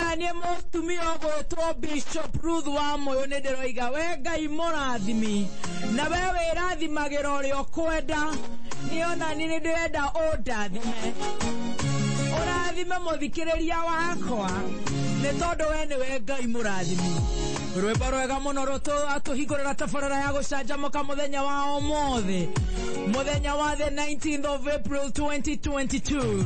Na niĩ mũtumia ũgwĩtwo Bishop Ruth wa Mũyũ nĩ ndĩroiga we Ngai mũrathimi na we wĩrathimagĩra ũrĩa ũkwenda nĩ ona niĩ nĩ ndĩrenda ũndathime ũrathime mũthikĩrĩria wakwa nĩ tondũ we nĩwe Ngai mũrathimi rwĩmbo rwega mũno rũtũhingũrĩra tabarĩra ya gũcanjamũka mũthenya wa ũmũthĩ mũthenya wa the 19th of April 2022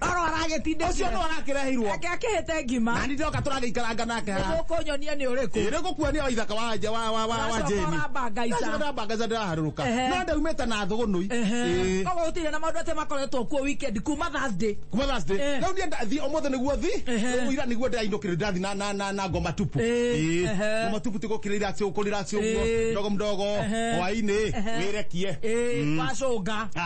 rora aragĩtindĩkia ũcio nĩ warakĩreheirwo ake akĩhĩte ngima na nĩ ndoka tũragĩikaranga nake haha nĩgũkũnyonia nĩ ũrĩkũ ĩrĩ gũkuonia wa ithaka wa nja wa wa wa wa Ũracoka jeni ũrambangaica. Ũcio ndambangaica ndĩraharũrũka Ehe. no ndaumĩte na thũgũnũi Ĩĩ. koguo gũtirĩ na maũndũ atĩ makoretwo kuo weekend kuma thursday kuma thursday Eh. rĩu niĩ ndathi ũmũthĩ nĩguo thi Ehe. rĩu ira nĩguo ndĩrainũkĩrĩ ndathi na na na na ngoma tupu Eh, Ĩĩ. ehe. ngoma tupu tigũkĩrĩra acio ũkũrĩra acio Eh. ũguo mdogo mdogo Ehe. hwainĩ Ehe. wĩrekie Eh, Mm. wacũnga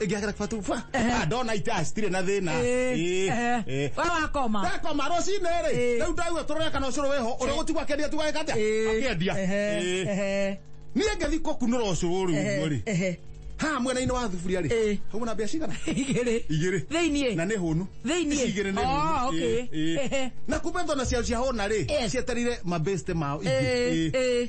ĩngĩagera kwatu bwa Ehe. Ah, ndona ita citirĩ na thĩna Eh, Ĩ, eh. ĩ. Wewe wakoma. ndakoma rũcinĩ rĩ Eh. rĩu ndaigua tũrore kana ũcũrũ wĩho ũrĩa gũtigwa akĩendia tigwa gĩka atĩa Eh, akĩendia ehe, Ĩ. ehe, niĩ ngĩthi kũkunũra ũcũrũ ũrĩ ehe, ũguo rĩ ehe. ha mwena-inĩ wa thuburia Eh. rĩ hau na mbia cigana Igĩrĩ. igĩrĩ Thĩiniĩ. na nĩ hũnu Thĩiniĩ. Ici igĩrĩ nĩ Oh, hũnu. okay. Ĩ, ĩ. Ehe. na kumbe thona cia cia hũna rĩ Eh. cieterire mabeste mao ingĩ Eh, Ĩ. eh.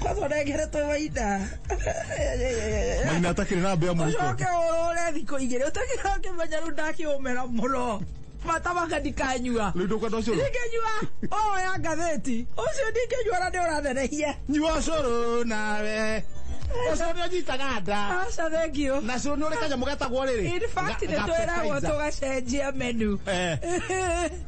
kwanza ũrengeretwo maina maina atakĩrĩ na mbĩa mũhuko ũcoke ũrũre thikũ igĩrĩ ũtakĩra kĩmenya rĩu ndakĩũmera mũno matamaka ndikanyua rĩu ndũkwenda ũcũrũ ndingĩnyua oya ngathĩti ũcio ndingĩnyua na nĩũrathenehia nyua ũcũrũ nawe ũcũrũ nĩũnyitaga nda aca thengio na cũrũ nĩ ũrĩ kanyamũ getagwo rĩrĩ in fact Ga- nĩtwĩragwo gapetizer. tũgacenjia menu Eh.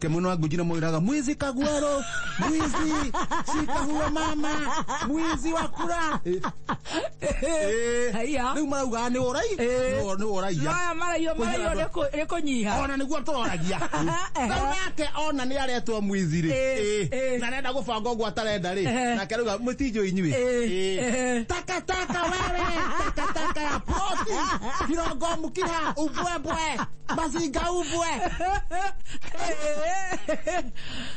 Ke mwene wa Guji namwiraga mwizi kagwero mwizi shika huyo mama mwizi wa kura Haiya. riu marauga ni urai Eh. ni uraia Maya maraio maraio nĩ kũ- nĩ kũnyiha ona niguo tũroragia Ehe. rĩu nake ona nĩ aretwo mwizi rĩ Eh, Eh. eh. na nenda gũbanga ũguo atarenda rĩ Ehe. nake rauga mũtinjũ inyuĩ Eh, Eh. ehe. takataka wewe takataka ya poti kirongo mũkiha umbwe ubwe baziga ubwe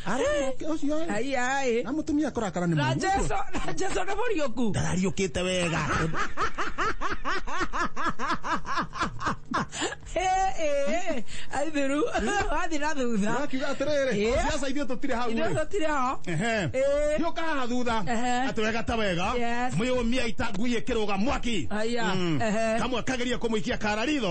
ara moke ucio ĩ, ai ai na mũtumia kũrakara nĩ na mũrimũ ũcio. jesu na jesu nĩ mũriũku ndarariũkĩte wega aithiru wathi na thutha akiuga atĩrĩrĩ Ĩ. ciaca ithuĩ tũtirĩ hau irio ĩ. tũtirĩ ho Ehe. Ĩ. Thiĩ ũkahaha thutha Ehe. atĩ wega ta wega Yes. mwĩyũmia itangui ĩkĩrũga mwaki Aya, Mm. ehe. kamwe kageria kũmũikia kara ritho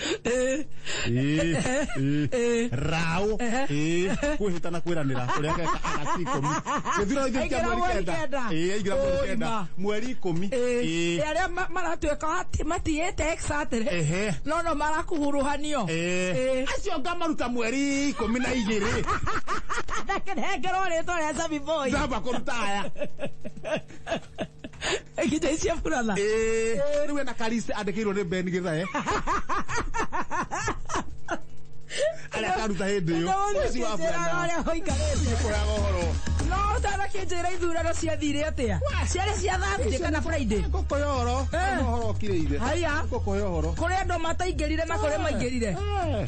Eh, Ĩ, ĩ, eh. raũ ĩ, kwĩhĩta na kwĩranĩra ũrĩa ageka agati ikũmi gĩthurano gĩkĩ kĩa Aingĩra mweri mweri kenda kenda. Ĩ, aingĩra mweri Ũũi kenda ma. mweri ikũmi Ĩ, Ĩ, arĩa ma- maratuĩka ati- matiyĩte exatĩrĩ Ehe. no no marakuhuruhanio ĩ. Ĩ. acio ngamaruta mweri ikũmi na igĩrĩ ndakenengerwo rĩtwa rĩa Zabi Boy. ndamba kũruta aya nginya icio burana ĩĩ rĩu ena kariste andĩkĩirwo nĩ ben gĩthae arĩa akaruta hĩndĩ ĩyo ũci wa burana ũrĩa ũikarĩte kũraga ũhoro no ũtanakĩnjĩra ithurano ciathire atĩa ciarĩ cia thursday kana friday ngũkũ ya ũhoro Eh. ũhoro ũkirĩire haya ngũkũ ya ũhoro kũrĩ andũ mataingĩrire na kũrĩ maingĩrire Eh.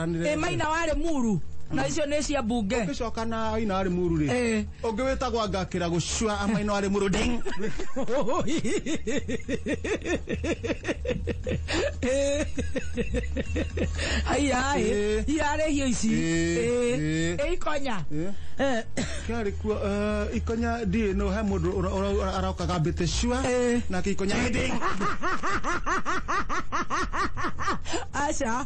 Ĩ maina warĩ muru na icio nĩ cia mbunge ũgĩcoka na aina arĩ muru rĩ Eh. ũngĩ wĩtagwa ngakĩra gũcua amaina arĩ muru ding aiyaĩ Eh. iarĩ hio ici Eh, eh. ĩ ikonya Eh. Eh, kĩarĩ kuo eh, ikonya ndiĩ no he mũndũ ũra- ũra- ũra- arokaga mbĩte cua Eh. nake ikonya ding aca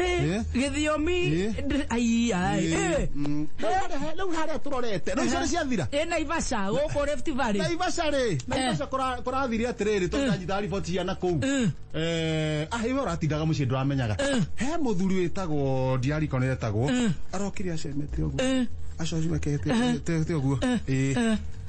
Eh? githiomi Eh? ndr- ai ai eh. Mm. Rĩu harĩa- rĩu harĩa tũrorete rĩu icio nĩ ciathira ĩ naivasha gũkũ rift valley naivasha rĩ naivasha kũra- kũrathire atĩrĩrĩ tondanyita riboti cia na kũu Mm. Eh, ah iwe ũratindaga mũciĩ ndũramenyaga he mũthuri wĩtagwo ndiariko nĩ etagwo arokire acemete ũguo Eh. acocimekete ũguo Ĩĩ.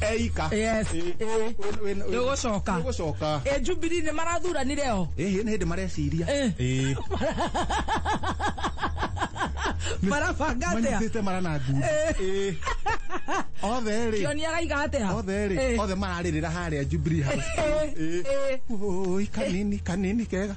eika Yes, Ĩ- ĩ. ĩ- ĩ- ĩ- Nĩgũcoka. nĩgũcoka ä njubiri nä marathuranire o ĩhĩ nĩ hĩndĩ mareciria Ĩ. Ĩ, marabanga atä a manyitĩte mara na ngundi Ĩ. othe rĩ kĩoni araiga atä a othe rĩ othe mararĩrĩra harĩa Jubilee House Ĩ, ĩ. Oi, kanini kanini kega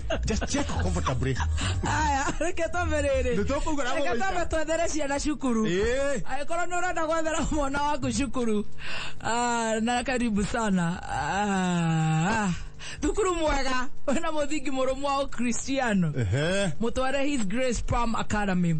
Just check comfortably. aya reke twambe rĩrĩ Nĩ tũkũgũra reke mũgũita. twambe twethere ciana cukuru Eh. agĩkorwo nĩ ũrenda gwethera mwana waku cukuru Ah, na karibu sana Ah, ah. thukuru mwega wĩna mũthingi mũrũmu wa ũkristiano Ehe. mũtware his grace palm academy